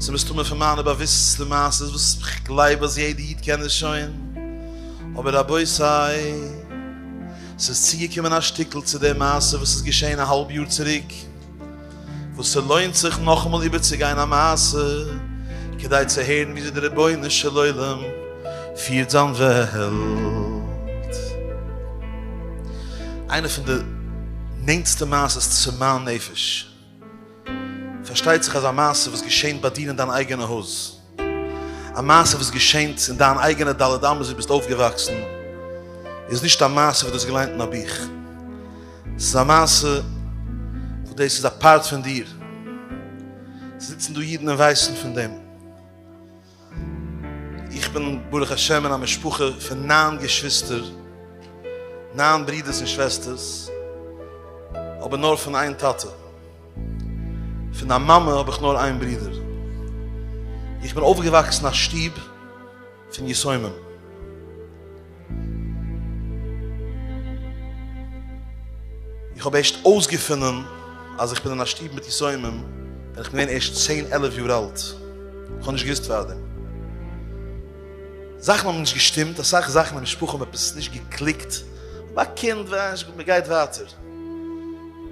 ס'איז מסתמא פון מיינע באוויסטסטע מעשיות וואס כ'גלייב אז יעדע איד קען עס שוין, אבער רבותי, ס'איז צוגעקומען א שטיקל צו די מעשה וואס איז געשען א האלב יאר צוריק, וואס ס'לוינט זיך נאכאמאל איבערצוגיין א מעשה, כדי צו הערן וויאזוי דער רבונו של עולם פירט זיין וועלט. איינע פון די נענטסטע מעשיות צו מיין נפש. פארשטייט זיך אז א מעשה וואס געשענט ביי דיר אין דיין אייגענע הויז, א מעשה וואס געשענט אין דיין אייגענע ד' אמות וואו דו ביסט אויפגעוואקסן, איז נישט א מעשה וואס דו האסט געליינט אין א בוך. עס איז א מעשה וואס דאס איז א פארט פון דיר. עס זיצן דא אידן און ווייסן פון דעם. איך בין ברוך השם אין א משפחה פון נײַן געשוויסטער, נײַן ברידערס און שוועסטערס, אבער נאר פון איין טאטע. פון א מאמע האב איך נאר איין ברודער. איך בין אויפגעוואקסן אין א שטוב פון יתומים. איך האב ערשט אויסגעפונען אז איך בין אין א שטוב מיט יתומים ווען איך בין געווען ערשט צען עלף יאר אלט, איך האב נישט געוואוסט פארדעם. זאכן האבן נישט געשטימט, אסאך זאכן אין משפחה האבן עפעס נישט געקליקט, כ'בין א קינד, מ'גייט ווייטער.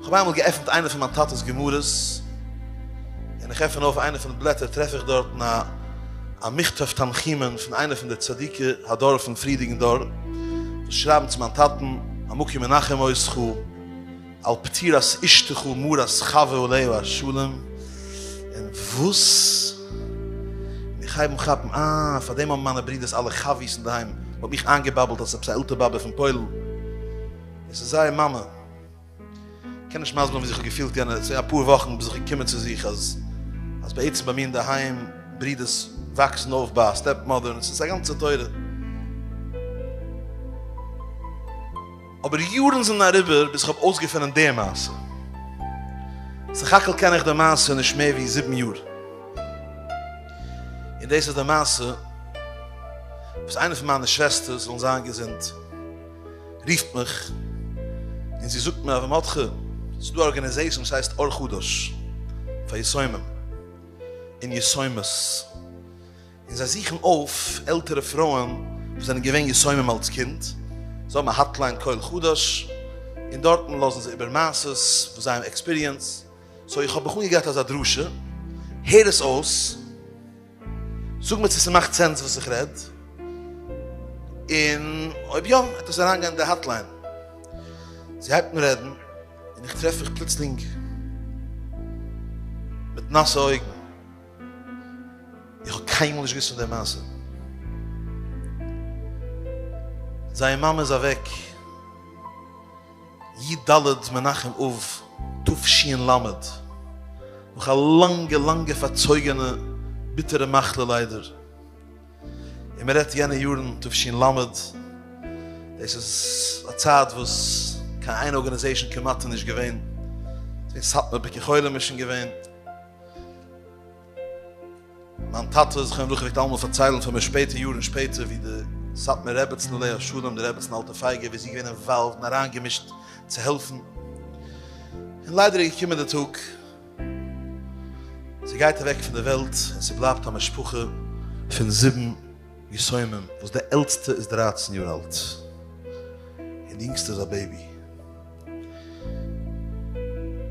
כ'האב איינמאל געעפנט איינע פון מיין טאטע'ס גמרות, און איך עפן אויף איינע פון די בלעטער טרעף איך דארטן א א מכתב תנחומין פון איינע פון די צדיקי הדור פון פריערדיגן דור, וואס שרייבן צו מיין טאטן, המקום ינחם אותך, על פטירת אשתך מרת חוה עליה השלום, און וואס? און איך הייב אן כאפן, אה, פאר דעם האבן מיינע ברודער'ס אלע חבי'ס אינדערהיים אויף מיך איינגעבאבלט אז ס'איז עפעס א עלטער באבע פון פוילן, און ס'איז זייער מאמע. קען נישט מסביר ווען ווי זיך געפילט יענע צו אפאר וואכן ביז איך געקומען צו זיך אז אז בעצם ביי מיר אין די היים ברידערס וואקסן אויף ביי א סטעפ מאדער און עס איז א גאנצע תורה אבער יארן זענען אריבער ביז איך האב אויסגעפונען די מעשה סך הכל קען איך די מעשה נישט מער ווי זיבן יאר און דאס איז די מעשה וואס איינע פון מיינע שוועסטערס זאלן זיין געזונט רופט מיך און זי זאגט מיר אז מרדכי ס'איז דא א ארגענעזעישן וואס הייסט אור חדש פאר יתומים און יתומות און זיי זוכן אויף עלטערע פרויען וואס זענען געווען יתומים אלץ קינד, זיי האבן א האטליין קול חדש און דארטן לאזן זיי איבער מעשות וואס זיי האבן עקספיריענסד, סאו איך האב בחור געהאט אזא דרשה, הער עס אויס. זאג מיר צו ס'מאכט סענס וואס איך רעד, און אויב יא העט איך זיך אריינגיין אין די האטליין. זי הייבט אן רעדן, און איך טרעף מיך פלוצלינג מיט נאסע אויגן. איך האב קיינמאל נישט געוואוסט פון די מעשה. זייער מאמע איז אוועק. י ד מנחם אב תשנ ל, נאך א לאנגע לאנגע פארצויגענע ביטערע מחלה ליידער, און מען רעדט יענע יארן תשנ ל, דאס איז א צייט וואס קיין איין ארגאניזעישאן כמעט איז נישט געווען, ס'איז געווען סאטמאר ביקור חולים איז שוין געווען, מיין טאטע זכרון לברכה פלעגט אלעמאל פארציילן פון די שפעטע יארן שפעטער ווי די סאטמאר רעבעצן עליה השלום די רעבעצן אלטע פייגע ווי זי איז געווען אינוואלווד און אריינגעמישט צו העלפן און ליידער איז געקומען די טאג זי גייט אוועק פון די וועלט און ס'בלייבט א משפחה פון זיבן יתומים וואס די עלטסטע איז דרײַצן יאר אלט און די אינגסטע איז א בעיבי.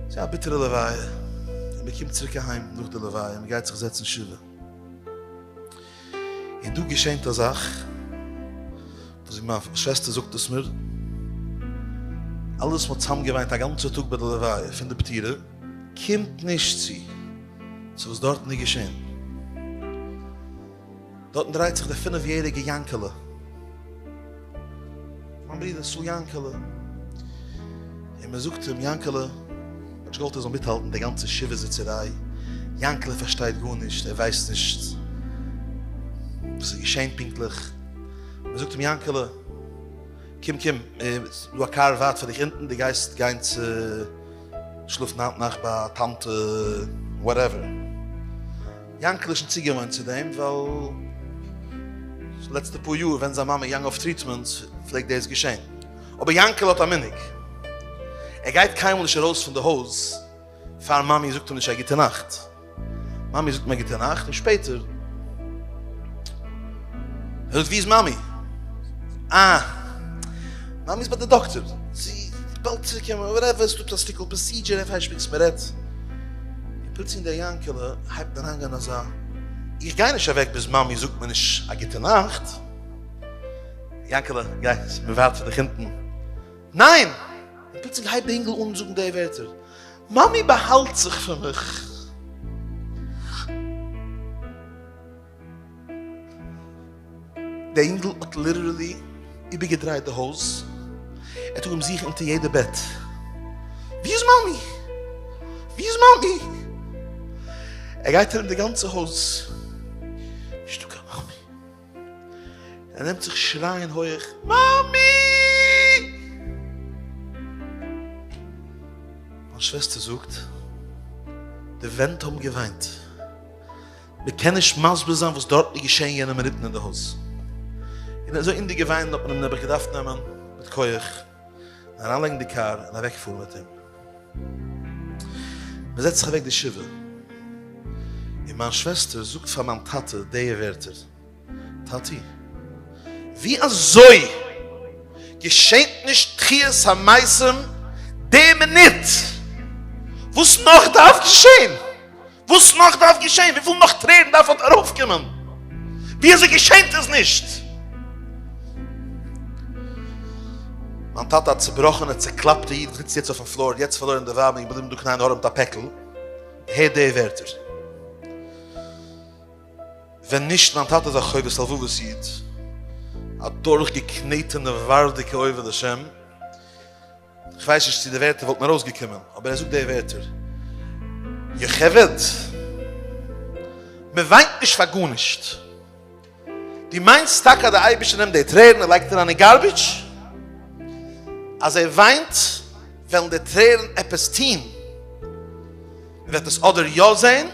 ס'איז א ביטערע לוויה און מען קומט צוריק אהיים נאך די לוויה און מען גייט זיך זעצן שבעה און דא געשענט א זאך וואס ווי מיין שוועסטער זאגט עס מיר אלעס וואס מען האט צוזאם געוויינט א גאנצע טאג ביי די לוויה פון די פטירה קומט נישט צו צו וואס דארטן איז געשען. דארטן דרייט זיך דער פינף יעריגע יאנקעלע. מיין ברודער סאו יאנקעלע. און מען זאגט אים יאנקעלע, מען האט נישט געוואלט ער זאל מיטהאלטן די גאנצע שבעה זיצעריי, יאנקעלע פארשטייט גארנישט, ער ווייסט נישט וואס איז געשען פונקטליך. מען זאגט אים יאנקעלע, קום קום, ס'איז דא א קאר ווארט פאר דיך אונטן, דו גייסט גיין צו שלאפן היינט נאכט ביי א טאנטע וואטעווער. יאנקל איז שוין צוגעוואוינט צו דעם ווייל די לעצטע פאר יאר ווען זיין מאמע איז געגאנגען אויף טריטמענט פלעגט דאס געשען. אבער יאנקל האט א מנהג, ער גייט קיינמאל נישט ארויס פון די הויז פאר מאמי זאגט אים נישט א גוטע נאכט. מאמי זאגט אים א גוטע נאכט און שפעטער ער זאגט ווי איז מאמי? אה מאמי איז ביי די דאקטער, זי וועט באלד צוריקקומען, וואטעווער, עס איז דא א שטיקל פראסידזשער, ער פארשפיקט זיך מען רעדט. און פּלוצלינג דער יאַנקעלע הײבט אָן האַנגען אַזאַ. איך גײ נישט אַװעק ביז מאַמי זאָגט מיר נישט אַ גוטע נאַכט. יאַנקעלע, גײ, ס'באַװײַבט זיך דיך אונטן. נײן! און פּלוצלינג הײבט דער ייִנגל אָן זאָגן די װערטער, מאַמי באַהאַלט זיך פֿון מיך. דער אינגל האט ליטערלי איבערגעדרייט די הויז, ער האט אנגעהויבן זוכן אונטער יעדע בעט, ווי איז מאמי? ווי איז מאמי? ער גייט ארום די גאנצע הויז, נישטא קיין מאמי, ער נעמט זיך שרייען הויעך, מאמי! מיין שוועסטער זאגט, די ווענט האבן געוויינט. מען קען נישט מסביר זיין וואס דארטן איז געשען יענע מינוטן אין די הויז. און אזוי אין די געוויין האט מען אים נעבעך געדארפט נעמען מיט כח און אריינלייגן אין די קאר און אוועקפארן מיט אים. מען זעצט זיך אוועק די שבעה און מיין שוועסטער זאגט פאר מיין טאטע די ווערטער, טאטי, ווי אזוי געשענט נישט תחיית המתים די מינוט? וואס נאך דארף געשען? וואס נאך דארף געשען? וויפיל נאך טרערן דארף אט ארויפקומען? וויאזוי געשענט עס נישט? מיין טאטע א צובראכענע צוקלאפטע איד זיצט יעצט אויפן פלאר, יעצט פארלוירן די ווייב און געבליבן דא קנאיען ארעמט א פעקל, הער די ווערטער. ווען נישט מיין טאטע איז א חובת הלבבות איד, א דורכגעקנעטענע ווארדיגע עובד השם, כ'ווייס נישט צו די ווערטער וואלטן ארויסגעקומען, אבער ער זאגט די ווערטער, יוכבד, מ'וויינט נישט פאר גארנישט. דו מיינסט טאקע אז די אייבערשטער נעמט די טרערן און לייגט אריין אין גארביטש? אז ער וויינט, וועלן די טרערן עפעס טון. מ'וועט עס אדער יא זען,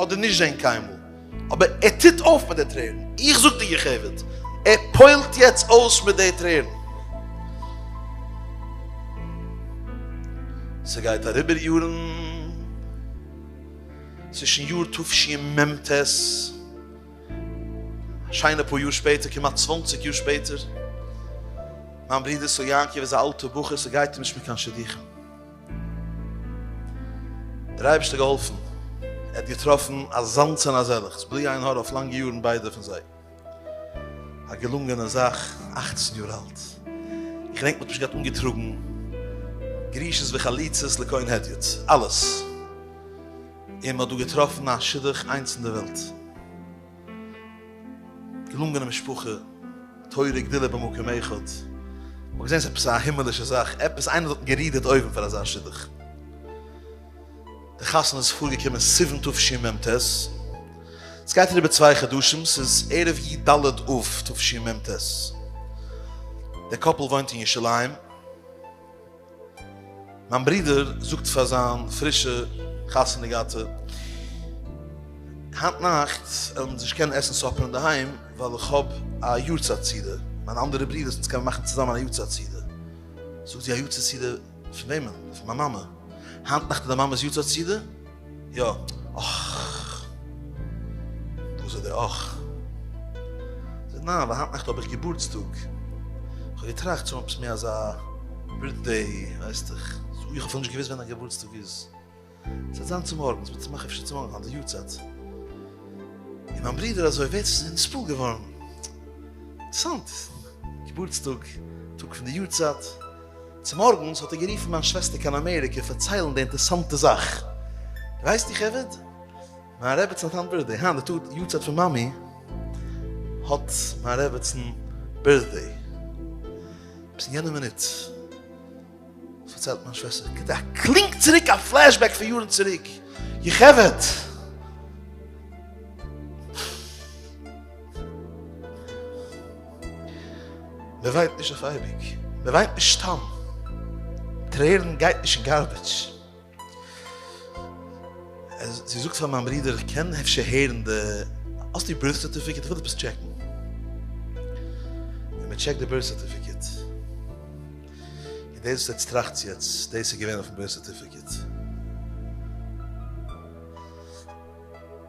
אדער נישט זען קיינמאל. אבער ער טוט אויף מיט די טרערן, איך זאג די גע'חייב'עט, ער פועל'ט יעצט אויס מיט די טרערן. ס'גייט אריבער יארן, צווישן יאר תשי מ ט, א שיינע פאר יאר שפעטער, כמעט צוואנציג יאר שפעטער, מיין ברודער סער יעקב איז א אלטער בחור, ס'גייט אים נישט מיט קיין שידוכים. דער אייבערשטער געהאלפן ער האט געטראפן אזאנס און אזעלעכס בלי עין הרע אויף לאנגע יארן ביידע פון זיי א געלונגענע זאך אכצן יאר אלט איך געדענק מ'האט נישט געהאט אנגעטראגן גרישות וחליצות לכהן הדיוט אלעס און מ'האט דא געטראפן א שידוך איינס אין די וועלט. געלונגענע משפחה, תורה גדולה במקום אחד, מ'האט געזען ס'איז עפעס א הימעלישע זאך, עפעס איינער האט גערודערט אויבן פאר אזא שידוך. די חתונה איז פארגעקומען סיוון תשמ ט, עס גייט אריבער צוויי חדשים, ס'איז ערב י ד אב תשמ ט, די קאפל וואוינט אין ירושלים, מיין ברודער זאגט פאר זיין פרישע חתונה געהאטע, היינט נאכט וועלן אונז נישט קענען עסן סאפער אינדערהיים ווייל איך האב א יארצייט סעודה, מיינע אנדערע ברודערס אונז קענען מאכן צוזאמען א יארצייט סעודה. זאגט זי, א יארצייט סעודה פון וועמען? פון מיין מאמע? היינט נאכט איז דיין מאמע'ס יארצייט סעודה? יא, אךךךכך זאג, ניין, ווייל היינט נאכט האב איך געבורטסטאג. איך האב געטראכט צו מאכן עפעס מער אזא בירטדעי, ווייסטעך. איך האב אפילו נישט געוואוסט ווען דיין געבורטסטאג איז. ס'וועט זיין צומארגנס, מ'וועט עס מאכן אפשר צומארגן אויף די יארצייט. און מיין ברודער אזוי, ווער ס'איז נספו געווארן. אינטערעסאנט. געבורטסטאג, טאג פון די יארצייט. צומארגנס האט ער גערופן מיין שוועסטער קיין אמעריקע פארציילן די אינטערסאנטע זאך. ווייסט איר חבר'ט? מיין רעבעצן האט היינט בירטדעי. היינט די טאג יארצייט פון מאמי האט מיין רעבעצן בירטדעי. און אין יענע מינוט פארציילט מיין שוועסטער קומט א קלינג צוריק א פלעשבעק פון יארן צוריק. איר חבר'ט! מען וויינט נישט אויף אייביג, מען וויינט נישט סתם, טרערן גייט נישט אין גארבעדזש. זי זאגט פאר מיין ברודער, איך קען אפשר הערן די, האסט די בירט סערטיפיקעט? איך וויל עפעס טשעקן. און מען טשעקט די בירט סערטיפיקעט. און דאס וואס עטס טראכטס יעצט, דאס איז געווען אויפן בירט סערטיפיקעט.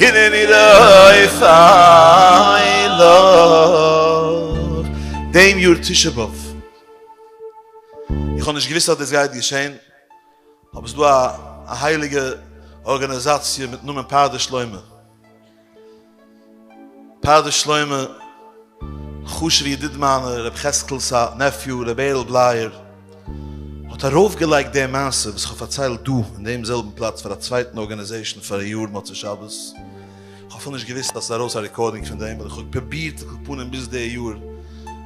הנני דאָס איילעך דעם יאָר תשעה באב. איך האָב נישט געוואוסט אַז דאָס גייט געשען, אָבער ס'איז דאָ אַ הייליגע אָרגאַניזאַציע מיטן נאָמען פרדס שלמה. פרדס שלמה, חשוב'ער ידיד מיינער, ר' חזקאל'ס א נעפיו, ר' בערל בלייער, האט ארויפגעלייגט די מעשה וואס כ'האב פארציילט דא אין דעם זעלבן פלאץ פאר א צווייטן ארגאניזעישאן פאראיאר מוצאי שבת, כ'האב אפילו נישט געוואוסט אז ס'איז ארויס א רעקארדינג פון דעם, און כ'האב פרובירט על כל פנים ביז די יאר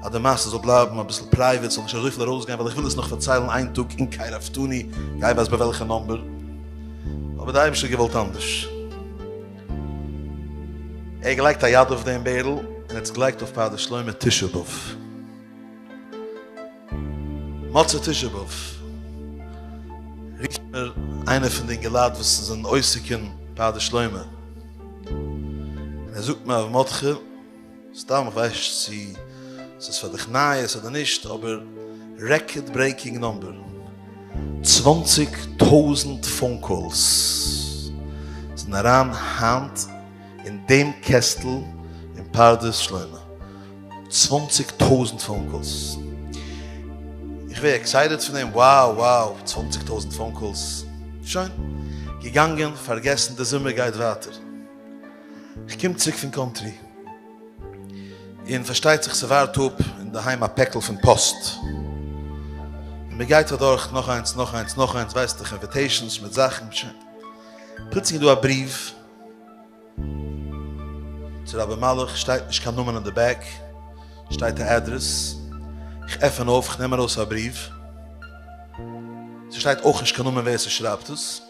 אז די מעשה זאל בלייבן אביסל פרייוועט, ס'זאל נישט אזויפיל ארויסגיין, ווייל איך וויל עס נאך פארציילן איין טאג אין קאי ראפטאני, גיי ווייס ביי וועלכע נומבער, אבער די אייבישטער האט געוואלט אנדערש. ער האט געלייגט א יד אויף דעם בערל און האט עס געלייגט אויף פאר די שלומי תשעה באב. מוצאי תשעה באב רופט מיר איינער פון די אינגעלייט וואס זענען עוסק אין פאר די שלומי און ער זאגט מיר הרב מרדכי, סתם איך ווייס נישט צו ס'איז פאר דיך נייעס אדער נישט אבער רעקארד ברעיקינג נאמבער צוואנציג טויזענט פאון קאלס זענען אריין היינט אין דעם קעסטל אין פרדס שלמה צוואנציג טויזענט פאון קאלס איך ווער עקסייטעד פון דעם wow wow צוואנציג טויזענט פאון קאלס שוין געגאנגען פארגעסן די זומער גייט ווייטער. איך קום צוריק פון קאנטרי, און פארשטייט זיך ס'ווארט אפ אינדערהיים א פעקל פון פאסט, און מ'גייט אדורך נאך איינס נאך איינס נאך איינס, ווייסט דיך אינוויטעישאנס מיט זאכן, פלוצלינג איז דא א בריוו צו ר' אבימלך, שטייט נישט קיין נאמען אין די בעק, שטייט א אדרעס, איך עפען אויף, איך נעם ארויס א בריוו, ס'שטייט אויך נישט קיין נאמען ווער ס'שרייבט עס.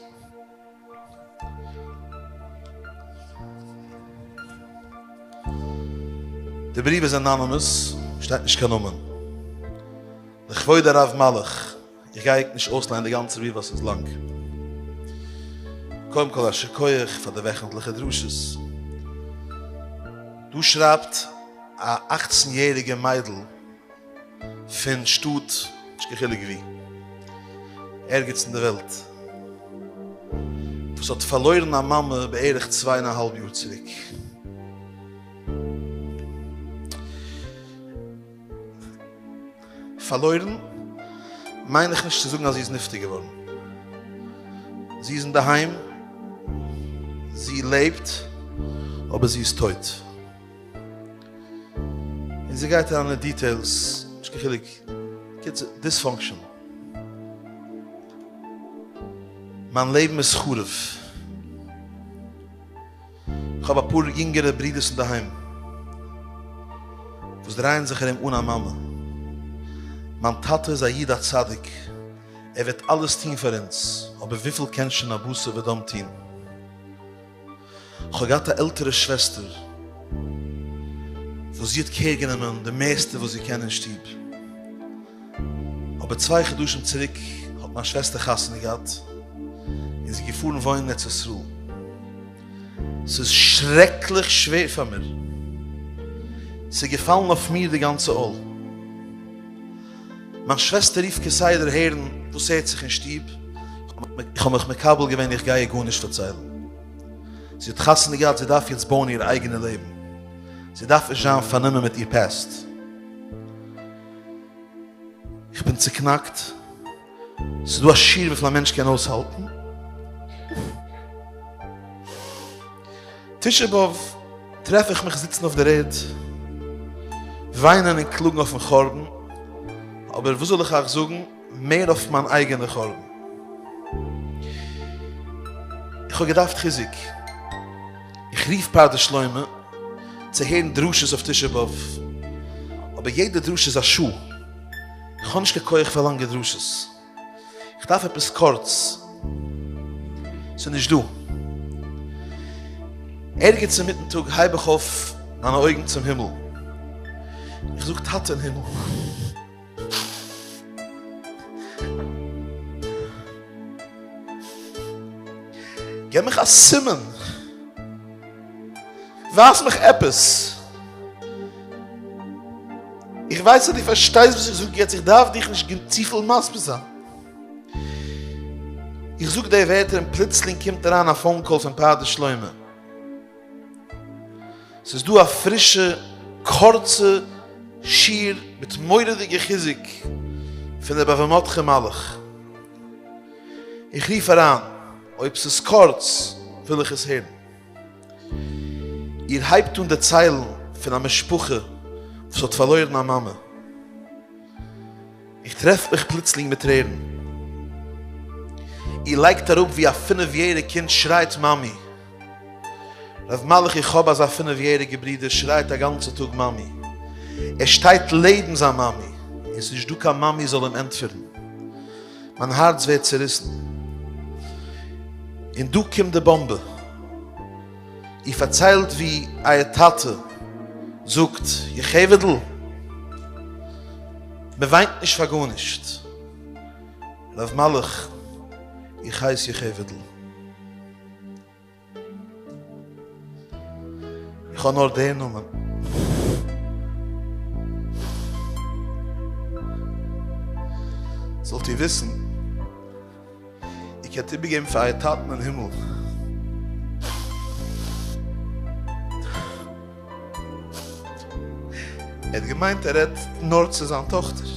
די בריוו איז אנאנימעס, שטייט נישט קיין נאמען. לכבוד הרב מלאך, איך גיי ענק נישט אויסליינען די גאנצע בריוו ווייל ס'איז לאנג. קודם כל א שכוח פאר די וועכנטליכע דרשות. דא שרייבט א אכצן יעריגע מיידל פון שטאט, נישט קיין חילוק וואו, ערגעץ אין די וועלט, וואס האט פארלוירן א מאמע בערך צוויי און א האלב יאר צוריק. פארלוירן מיין איך נישט צו זאגן אז זי איז נפטר געווארן. זי איז אינדערהיים, זי לעבט, אבער זי איז טויט. און זי גייט אריין אין דיטעילס, נישט קיין חילוק, קיצור, דיספאנקשען. מיין לעבן איז חרוב. איך האב אפאר יונגערע ברודערס אינדערהיים, וואס דרייען זיך ארום אן א מאמע. מיין טאטע איז א איד א צדיק, ער וועט אלעס טון פאר אונז, אבער וויפיל קען שוין א בשר ודם טון? כ'האב געהאט א עלטערע שוועסטער וואס זי האט קעיר גענומען די מערסטע וואס זי קען אין שטוב, אבער צוויי חדשים צוריק האט מיין שוועסטער חתונה געהאט און זי איז געפארן וואוינען ארץ ישראל, ס'איז שרעקליך שווער פאר מיר, ס'איז געפאלן אויף מיר די גאנצע עול. מיין שוועסטער רופט כסדר הערן וואס הערט זיך אין שטוב, איך האב מיך מקבל געווען איך גיי איר גארנישט פארציילן, זי האט חתונה געהאט זי דארף יעצט בויען איר אייגענע לעבן, זי דארף נישט זיין פארנומען מיט איר פּעסט. איך בין צוקנאקט. ס'איז דא א שיעור וויפיל א מענטש קען אויסהאלטן. תשעה באב טרעף איך מיך זיצן אויף דער ערד, וויינען און קלאגן אויפן חורבן, אבער וואס זאל איך אייך זאגן, מער אויף מיין אייגענע חורבן. איך האב געדארפט חיזוק. איך רוף פרדס שלמה צו הערן דרשות אויף תשעה באב, אבער יעדע דרשה איז א שעה. איך האב נישט קיין כח פאר לאנגע דרשות. איך דארף עפעס קורץ. ס'איז נישט דא. ערגעץ אינמיטן טאג הייב איך אויף מיינע אויגן צום הימל. איך זאג, טאטע אין הימל. געב מיך א סימן. ווייז מיך עפעס. איך ווייס אז דו פארשטייסט וואס איך זאג יעצט, איך דארף דיך נישט צופיל מסביר זיין. איך זאג די ווערטער און פלוצלינג קומט אריין א פאון קאל פון פרדס שלמה. ס'איז דא א פרישע קורצע שיעור מיט מורא'דיגע חיזוק פון דער בבא מטכא מלך. איך רוף אריין, אויב ס'איז קורץ וויל איך עס הערן. איר הייבט אן דערציילן פון א משפחה וואס האט פארלוירן א מאמע. איך טרעף מיך פלוצלינג מיט טרערן. איר לייגט אראפ ווי א פינף יעריג קינד שרייט מאמי. ר' מלאך איך האב אזא פינף יעריגע ברודער שרייט א גאנצע טאג מאמי. ער שטייט לעבן זיין מאמי און ס'איז נישט דא קיין מאמי זאל אים ענטפערן. מיין הארץ ווערט צוריסן. און דא קומט די באמבע. איר פארציילט ווי אייער טאטע זאגט, יוכבד'ל, מען וויינט נישט פאר גארנישט. רב מלאך, איך הייס יוכבד'ל. איך האב נאר די נאמען. זאלט איר וויסן, איר קענט איבערגעבן פאר אייער טאטן אין הימל, ער האט געמיינט ער רעדט נאר צו זיין טאכטער,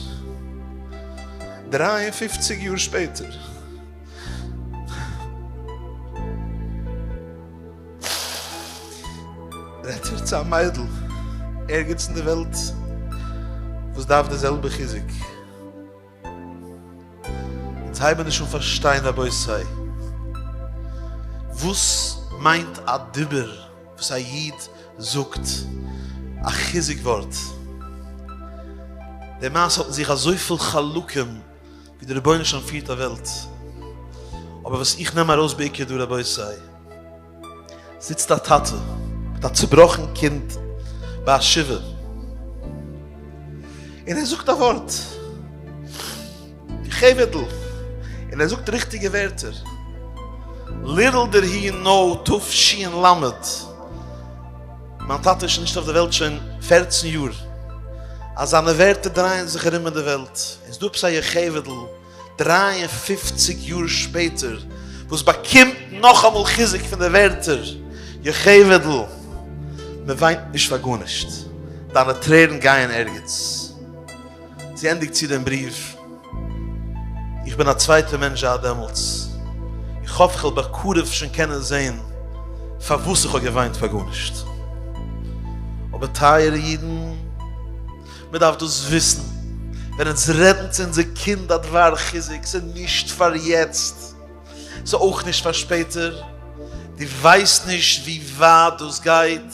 דרײַ און פֿופֿציק יאר שפעטער, רעדט איר צו א מיידל ערגעץ אין די וועלט וואס דארף די זעלבע חיזוק? אונז הייבן נישט אן פארשטיין רבותי וואס מיינט א דיבור וואס א איד זאגט א חיזוק ווארט, דערמאס האט אין זיך אזויפיל חלקים, ווי די רבונו של עולם פירט א וועלט, אבער וואס איך נעם ארויס בעיקר דא רבותי, זיצט א טאטע מיט א צובראכן קינד ביי א שבעה, און ער זאגט א ווארט, חבר'טל, און ער זאגט ריכטיגע ווערטער, ליל דער הי ן תשי ל, מיין טאטע איז שוין נישט אויף די וועלט שוין פערצן יאר, אז זיינע ווערטער דרייען זיך ארום אין די וועלט, און ס'דא עפעס א יוכבד'ל דרײַ און פֿופֿציק יאר שפעטער וואס באקומט נאכאמאל חיזוק פון די ווערטער, יוכבד'ל, מען וויינט נישט פאר גארנישט, דיינע טרערן גייען ערגעץ. זי ענדיגט צו דעם בריוו. איך בין א צווייטער מענטש זייט דעמאלטס, איך האף כ'וועל בקרוב שוין קענען זען פארוואס איך האב געוויינט פאר גארנישט. אבער טייערע אידן, מען דארף דאס וויסן, ווען אונז רעדן צו אונזער קינד א דבר חיזוק, ס'איז נישט פאר יעצט, ס'איז אויך נישט פאר שפעטער, דו ווייסט נישט ווי ווייט דאס גייט,